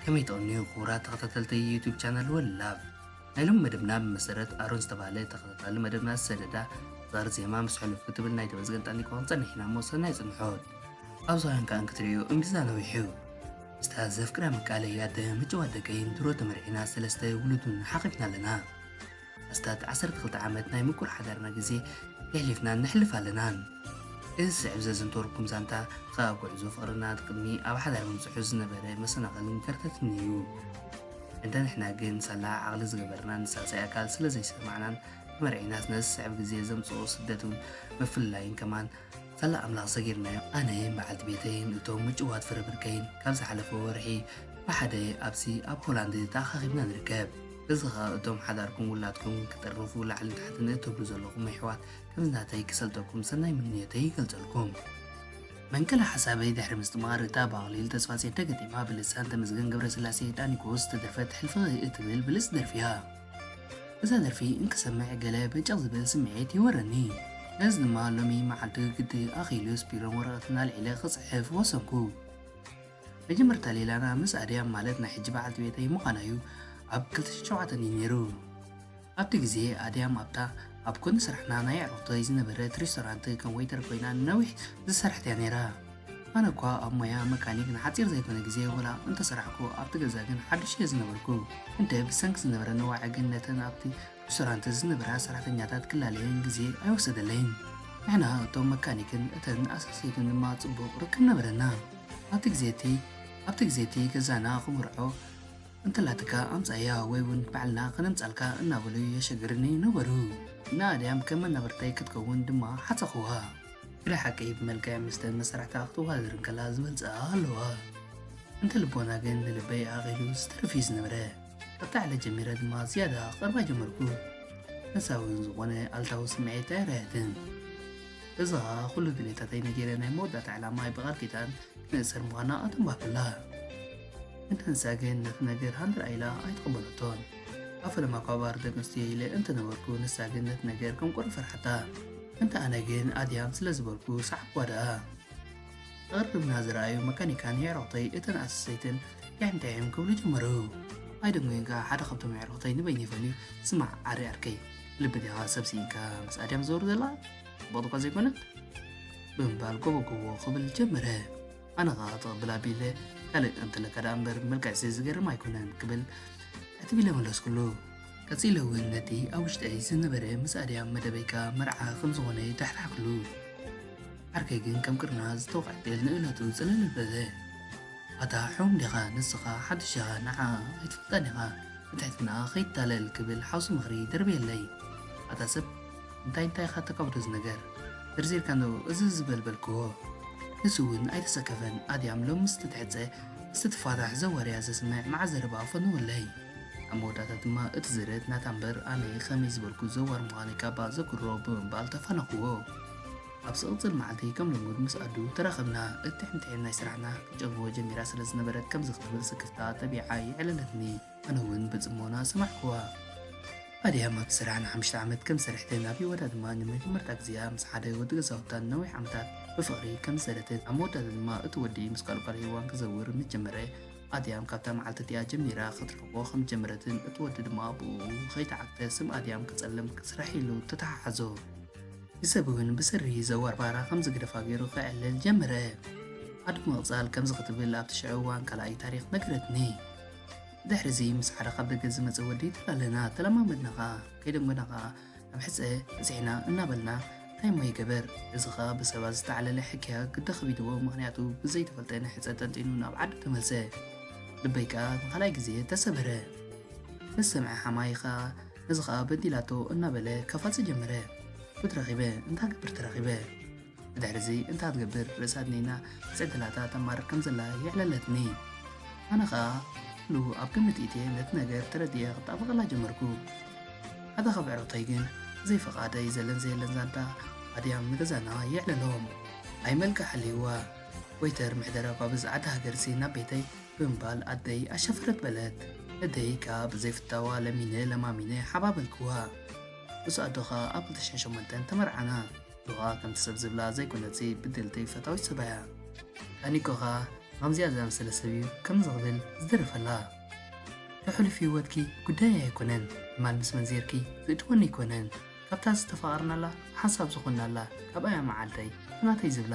ከመይ ጠቕንዩ ክቡራት ተኸታተልቲ ዩቱብ ቻናል ወላብ ናይ ሎም መደብና ብመሰረት ኣሮን ዝተባሃለ ተኸታታሊ መደብና ዝሰደዳ ዛር ዜማ ምስ ሕሉፍ ክትብል ናይ ተመስገን ጣኒቆ ክንፀንሕ ኢና እሞ ሰናይ ፅንሖት ኣብዛውያን ከዓ እንክትርእዩ እምቢዛ ነዊሑ ምስታ ዘፍቅራ ምቃለይ ኣደ ምጭዋት ደቀይ ንድሮ ተመርዒና ሰለስተ ውሉድ ውን ሓቚፍና ኣለና። ኣስታት ዓሰርተ ክልተ ዓመት ናይ ምቁር ሓዳርና ግዜ የሕሊፍናን ነሕልፍ ኣለናን። እዚ ዝስዕብ ዘዘንተወልኩም ዛንታ ኸኣ ኣብ ጉዕዞ ፍቕርና ቅድሚ ኣብ ሓዳር ምብጽሑ ዝነበረ መሰናኸልን ከርተትን እዩ። እንተ ንሕና ግን ሳላ ዓቕሊ ዝገበርናን ሳልሳይ ኣካል ስለ ዘይሰማዕናን ተመርዒናስ ነዚ ዝስዕብ ግዜ ዘምጽኦ ስደትን ምፍልላይን ከማን ሳላ ኣምላኽ ሰጊርናዮ ኣነይን በዓልቲ ቤተይን እቶም ምጭዋት ፍረ ብርከይን ካብ ዝሓለፈ ወርሒ ብሓደ ኣብዚ ኣብ ሆላንድ ተኣኻኺብና ንርከብ። እዚ ኸኣ እቶም ሓዳርኩም ውላድኩም ክጥርንፉ ላዕልን ታሕትን እትብሉ ዘለኹም ኣሕዋት ከምዚ ናተይ ክሰልጠኩም ሰናይ ምንዮተይ ይገልጸልኩም። መንቀሊ ሓሳበይ ድሕሪ ምስጥማር እታ ብኣኽሊል ተስፋጼን ተገጢማ ብልሳን ተመስገን ገብረስላሴ ዳኒኮስ ዝተደርፈት ሕልፍኺ እትብል ብልጽቲ ደርፊ እያ። እዛ ደርፊ እንክሰምዕ ገለ በጨቕ ዝብል ስምዒት ይወረኒ። ነዚ ድማ ሎሚ መዓልቲ ግዲ ኣኺሉስ ቢሮን ወረቐትን ኣልዒለ ክጽሕፍ ወሰንኩ። መጀመርታ ሌላና ምስ ኣድያም ማለት ናይ ሕጂ በዓልቲ ቤተይ ምዃና'ዩ፣ ኣብ ክልተ ሽሕን ሸውዓተን እዩ ነይሩ። ኣብቲ ግዜ ኣድያም ኣብታ ኣብ ጎኒ ስራሕና ናይ ኣዕሩኽተይ ዝነበረት ሬስቶራንት ከም ወይተር ኮይና ንነዊሕ ዝሰርሐት'ያ ነይራ። ኣነ እኳ ኣብ ሞያ መካኒክ ንሓጺር ዘይኮነ ግዜ ወላ እንተ ሰራሕኩ ኣብቲ ገዛ ግን ሓዱሽ እየ ዝነበርኩ። እንተ ብሰንኪ ዝነበረ ነዋዒ ግን ነተን ኣብቲ ሩስቶራንት ዝነበራ ሰራሕተኛታት ክላለየን ግዜ ኣይወሰደለይን። ንሕና እቶም መካኒክን እተን ኣሳሰይትን ድማ ጽቡቕ ርክብ ነበረና። ኣብቲ ግዜ እቲ ኣብቲ ግዜ እቲ ገዛና ክምርዖ እንተላትካ ኣምጻያ ወይ እውን ባዕልና ከነምጻልካ እናበሉ የሸግርኒ ነበሩ። ንኣድያም ከም መናብርተይ ክትከውን ድማ ሓጸኹዋ። ብናይ ሓቂ ብመልክዕ ምስተ መሳርሕታ ክትዋዳደር እንከላ ዝመልጽኣ ኣለዋ። እንተ ልቦና ግን ንልበይ ኣኣቒሉ ዝተርፍ እዩ ዝነበረ። ካብቲ ዕለት ጀሚረ ድማ ዝያዳ ክቐርባ ጀመርኩ። ንሳ እውን ዝኾነ ኣልታዊ ስምዒት ኣይርኣየትን። እዚ ኸኣ ኩሉ ድሌታተይ ነጊረ ናይ መወዳእታ ዕላማይ ብቓል ኪዳን ክንእሰር ምዃና ኣተንባህኩላ። እንተ ንሳ ግን ነቲ ነገር ሃንደራ ኢላ ኣይተቐበለቶን። ኣብ ፈለማ እኳ ባር ደቂ ኣንስትዮ ኢለ እንተ ነበርኩ ንሳ ግን ነቲ ነገር ከም ቁሪ ፈርሓታ። እንተ ኣነ ግን ኣድያም ስለ ዝበልኩ ሰዓብክዋ ደኣ። ተቐርርብና ዝረኣዩ መካኒካን የዕሩኽተይ እተን ኣሰሰይትን ዳይምዳይም ክብሉ ጀመሩ። ኣይደንጎይን ከኣ ሓደ ካብቶም የዕሩኽተይ ንበይኑ ይፈልዩ ስማዕ ኣሪ ኣርከይ ልቢ ዲኻ ሰብ ስኢንካ ምስ ኣድያም ዝዘውር ዘላ ጽቡቕ እኳ ዘይኮነት ብምባል ጎቦጎቦ ክብል ጀመረ። ኣነ ከኣ ክትቕብል ኣቢለ ካልእ እንተለካ ደኣ እምበር መልክዕሲ ዝገርም ኣይኮነን ክብል ዕትቢለ መለስኩሉ። ቀጺለ እውን ነቲ ኣብ ውሽጠይ ዝነበረ ምስ ኣድያም መደበይ ከኣ መርዓ ከም ዝኾነ ዳሕራሕኩሉ። ዓርከይ ግን ከም ቅርና ዝተወቕዐ ጤል ንእለቱ ጽልል በለ። ኣታ ሕሙም ዲኻ ንስኻ ሓድሽ ኢኻ ንዓኣ ኣይትፈልጣን ኢኻ ብትሕትናኣ ከይትታለል ክብል ሓውሲ ምኽሪ ደርበየለይ። ኣታ ሰብ እንታይ እንታይ ኢኻ ተቀብሎ ዝነገር ዘርዚርካ እንዶ እዝዝ ዝበል በልክዎ ንሱ እውን ኣይተሰከፈን ኣድያም ሎሚ ምስ ትትሕጸ ምስ ትፋታሕ ዘወርያ ዘስምዕ መዓት ዘረባ ፈንው ኣለይ ኣብ መወዳእታ ድማ እቲ ዝርት ናታ እምበር ኣነ ከመይ ዝበልኩ ዘዋር ምዃነይ ካባ ዘክሮ ብምባል ተፋነኽዎ ኣብ ዝቕጽል መዓልቲ ከም ልሙድ ምስ ኣዱ ተራኸብና እትሕምትሒም ናይ ስራሕና ክትጨንግዎ ጀሚራ ስለ ዝነበረት ከምዚ ክትብል ስክፍታ ጠቢዓ የዕለለትኒ ኣነ ውን ብጽሞና ሰማዕክዋ። ኣድያም ኣብቲ ስራሕ ንሓሙሽተ ዓመት ከም ዝሰርሐትን ናብ ህይወታ ድማ ንመጀመርታ ግዜኣ ምስ ሓደ ወዲ ገዛውታ ንነዊሕ ዓመታት ብፍቕሪ ከም ዝሰረተትን ኣብ መወዳእታ ድማ እቲ ወዲ ምስ ካልእ ጓል ሄዋን ክዘውር ምስ ጀመረ ኣድያም ካብታ መዓልቲ እቲኣ ጀሚራ ክትርሕቆ ከም ዝጀመረትን እቲ ወዲ ድማ ብኡ ከይተዓግተ ስም ኣድያም ክጸልም ክስራሕ ኢሉ ተተሓሓዞ ብሰብ እውን ብስሪ ዘዋር ባራ ከም ዝግደፋ ገይሩ ክዕልል ጀመረ ኣዱ ምቕጻል ከምዚ ክትብል ኣብቲ ሽዑ እዋን ካልኣይ ታሪኽ ነገረትኒ ድሕሪዚ ምስ ሓደ ካብ ደገ ዝመጸ ወዲ ተላለና ተለማመድና ከኣ ከይደንጎና ከኣ ኣብ ሕጸ በጺሕና እናበልና እንታይ እሞ ይገበር እዚ ከኣ ብሰባት ዝተዓለለ ሕክያ ግዲ ከቢድዎ ምክንያቱ ብዘይተፈልጠ ንሕጸ ጠንጢኑ ናብ ዓዱ ተመልሰ ልበይ ከኣ ንካልኣይ ግዜ ተሰበረ ምስ ሰምዐ ሓማይ ከኣ እዚ ከኣ በዲላቶ እናበለ ከፋጽ ጀመረ ፉት ረኺበ እንታ ገብር ተረኺበ ብድሕሪዚ እንታ ትገብር ርእሳ ድኒና ብጽግላታ ተማርር ከም ዘላ የዕለለትኒ። ኣነ ኸኣ ኩሉ ኣብ ግምት ኢትየ ነቲ ነገር ተረዲኤ ክጣበቐላ ጀመርኩ። ሓደ ካብ ኣዕሩኽተይ ግን ብዘይ ፍቓደይ ዘለን ዘየለን ዛንታ ኣድያም ንገዛና የዕለሎም። ኣይ መልክዕ ሃልይዋ ወይተር ምሕደራ ጓብዝ ዓዲ ሃገርሲ ናብ ቤተይ ብምባል ኣደይ ኣሸፈረት በለት። ነደይ ከኣ ብዘይ ፍታዋ ለሚነ ለማሚነ ሓባበልክዋ። ምስ ኣዶ ኸኣ ኣብ ክልተ ሽሕን ሸሞንተን ተመርዓና። ሉቃ ከምቲ ሰብ ዝብላ ዘይኮነትሲ ብድልቲ ፈታዊት ሰባ እያ ኣኒኮ ከኣ ከምዚኣ ዝኣመሰለ ሰብ እዩ ከምዚ ክብል ዝደረፈላ እቲ ሕሉፍ ህይወትኪ ጉዳየይ ኣይኮነን ትማል ምስ መንዜርኪ ዝእትወኒ ኣይኮነን ካብታ ዝተፋቐርናላ ሓንሳብ ዝኾንናላ ካብኣያ መዓልተይ ናተይ ዝብላ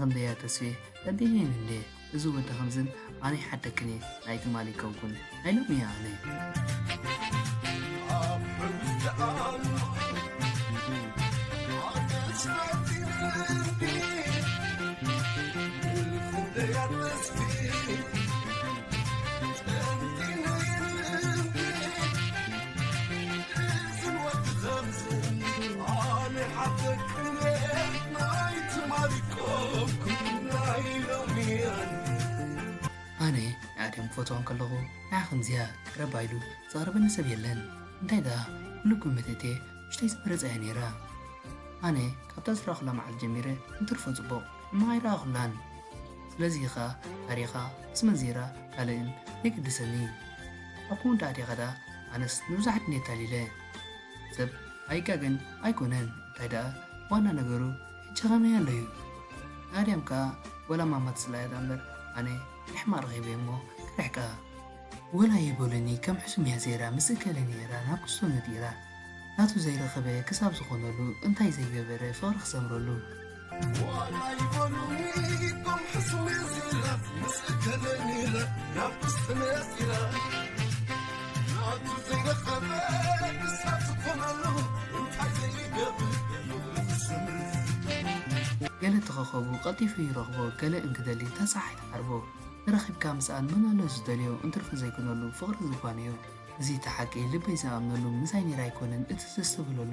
ኣንበያ ተስፌ በዲህን እንዴ እዚ ወዲ ከምዝን ኣነ ይሓደክኒ ናይ ትማሊ ኮንኩን ናይ ሎሚ እያ ኣነ ኣነ ንኣድም ክፈትዋ እንከለኹ ንዓ ከምዚኣ ቀረባ ኢሉ ዘቕርበኒ ሰብ የለን እንታይ ደኣ ኩሉ ግምት እትየ ውሽጠይ ዝመረጸ እያ ነይራ ኣነ ካብታ ዝረኣኹላ መዓልቲ ጀሚረ እንትርፎ ጽቡቕ ሕማቕ ኣይረኣኹላን ስለዚ ኸኣ ታሪኻ ምስ መንዚራ ካልእን የገድሰኒ ኣኩ እንዳ ኣዴኻ ደኣ ኣነስ ንብዙሓት እንዴ ኣታሊለ ሰብ ኣይጋገን ኣይኮነን እንታይ ደኣ ዋና ነገሩ ይጨኸነያ ኣሎ እዩ ናድያም ከዓ ወላ ማማ ትስላያ ደኣ እምበር ኣነ ንሕማቅ ረኺበ እሞ ክርሕቃ ወላ ይበሉኒ ከም ሕሱም እያ ዘይራ ምስ እከለ ነይራ ናብ ክሶ ነዲራ ናቱ ዘይረኸበ ክሳብ ዝኾነሉ እንታይ ዘይገበረ ፍቕሪ ክሰምረሉ ገለ ተኸኸቡ ቀልጢፉ ይረኽቦ ገለ እንክደሊ እንተ ጸሓይ ትዓርቦ ተራኺብካ ምስኣን መን ኣሎ ዝደልዮ እንትርፊ ዘይኮነሉ ፍቕሪ ዝጓነዮ እዚ እቲ ሓቂ ልበይ ዝኣምነሉ ምሳይ ነይራ ኣይኮነን እቲ ዘስተብህለሉ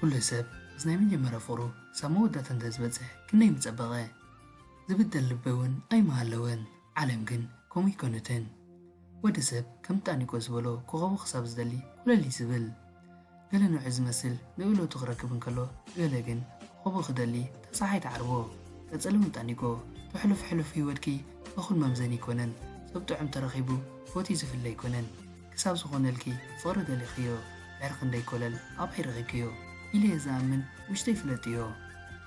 ኩሉ ሰብ ምስ ናይ መጀመርያ ፍቕሩ ክሳብ መወዳእታ እንተዝበጽሕ ክንደይ ምጸበቐ። ዝብደል ልቢ'ውን ኣይምሃለወን። ዓለም ግን ከምኡ ኣይኮነትን። ወዲ ሰብ ከም ጣኒቆ ዝበሎ ኮኾቡ ክሳብ ዝደሊ ኮለል እዩ ዝብል። ገለ ንውዒ ዝመስል ንእለቱ ክረክብ እንከሎ ገለ ግን ኮኾቡ ክደሊ እታ ጸሓይ ትዓርቦ። ቀጽልም ጣኒቆ ተሕሉፍ ሕሉፍ ህይወትኪ እኹል መምዘኒ ኣይኮነን ሰብ ጥዑም ተረኺቡ ፎትዩ ዝፍለ ኣይኮነን ክሳብ ዝኾነልኪ ፍቕሪ ደሊኽዮ ድሕሪ ክንደይ ኮለል ኣባይ ረኺብክዮ ኢለየ ዝኣምን ውሽጠይ ፍለጥዮ።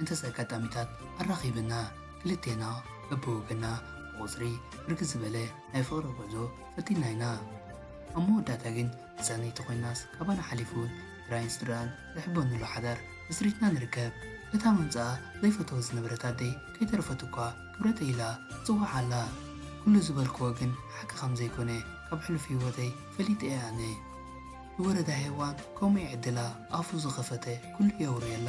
እንተስ ኣጋጣሚታት ኣራኺብና ክልቴና በብወገና ብቑጽሪ ብርክት ዝበለ ናይ ፍቕሪ ጉዕዞ ፈቲንና ኢና። ኣብ መወዳእታ ግን ተሳነይቲ ኮይናስ ካባና ሓሊፉ ጥራይን ስድርኣን ዝሕበንሉ ሓዳር መስሪትና ንርከብ። እታ ምምጽኣ ዘይፈተወት ዝነበረት ኣደይ ከይተረፈት እኳ ክብረተይ ኢላ ትጽውዓ ኣላ። ኩሉ ዝበልክዎ ግን ሓቂ ከም ዘይኮነ ካብ ሕሉፍ ህይወተይ ፈሊጠ እየ ኣነ። ንወረዳ ሄዋን ከምኡ ይዕድላ ኣፉ ዝኸፈተ ኩሉ የውርየላ።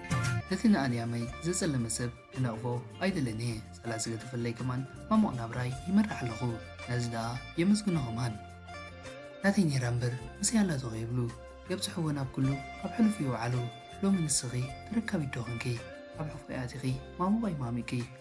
ነቲ ንኣልያመይ ዘጸለመ ሰብ ክነቕፎ ኣይደልን እየ፣ ጸላኢ ስለ ተፈለይ ከማን ማሙቕ ናብራይ ይመርሕ ኣለኹ፣ ነዚ ደኣ የመስግኖ ከማን። ናተይ ኔራ እምበር ምስይ ኣላቶ ከይብሉ የብጽሕወን ኣብ ኩሉ ኣብ ሕሉፍ ይውዓሉ ሎሚ ንስኺ ተረካቢት ዶ ኮንኪ ኣብ ሕቆይ ኣቲኺ ማሙቀይ ማሚቅኪ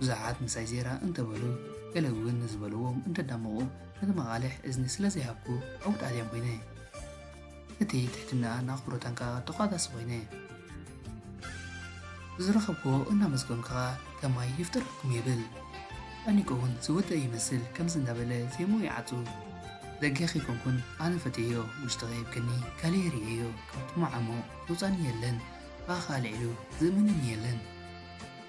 ብዙሓት ምሳይ ዜራ እንተበሉ ገለ እውን ንዝበልዎም እንተዳመቑ ነቲ መቓልሕ እዝኒ ስለ ዘይሃብኩ ዕውት ኣድያም ኮይነ። እቲ ትሕትናኣን ኣኽብሮታን ከኣ ተቋዳሲ ኮይነ። ብዝረኸብክዎ እናመስገንኩ ከኣ ከማይ ይፍጠረልኩም ይብል። ኣኒቆ እውን ዝወደኣ ይመስል ከምዚ እንዳበለ ዜምኡ ይዓጹ። ደገ ከይኮንኩን ኣነ ፈትየዮ ውሽጢ ከይብክኒ ካልኤ ርእየዮ ካብ ጥሙዕ ዓሞቕ ዘውጻኒ የለን ብኣኻ ኣልዒሉ ዝእምነኒ የለን።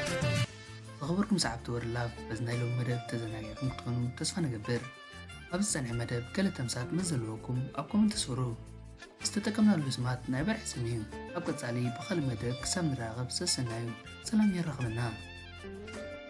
ዝኸበርኩም ሰዓብቲ ወሪ ላቭ በዚ ናይ ሎሚ መደብ ተዘናጊዕኩም ክትኮኑ ተስፋ ንገብር ኣብዚ ዝፀንሐ መደብ ገለ ተምሳጥ ምስ ዘለወኩም ኣብ ኮመንት ስሩ ዝተጠቀምናሉ ስማት ናይ በርሒ ስም እዩ ኣብ ቀፃሊ ብካልእ መደብ ክሳብ ንራኸብ ሰሰናዩ ሰላም የራኽበና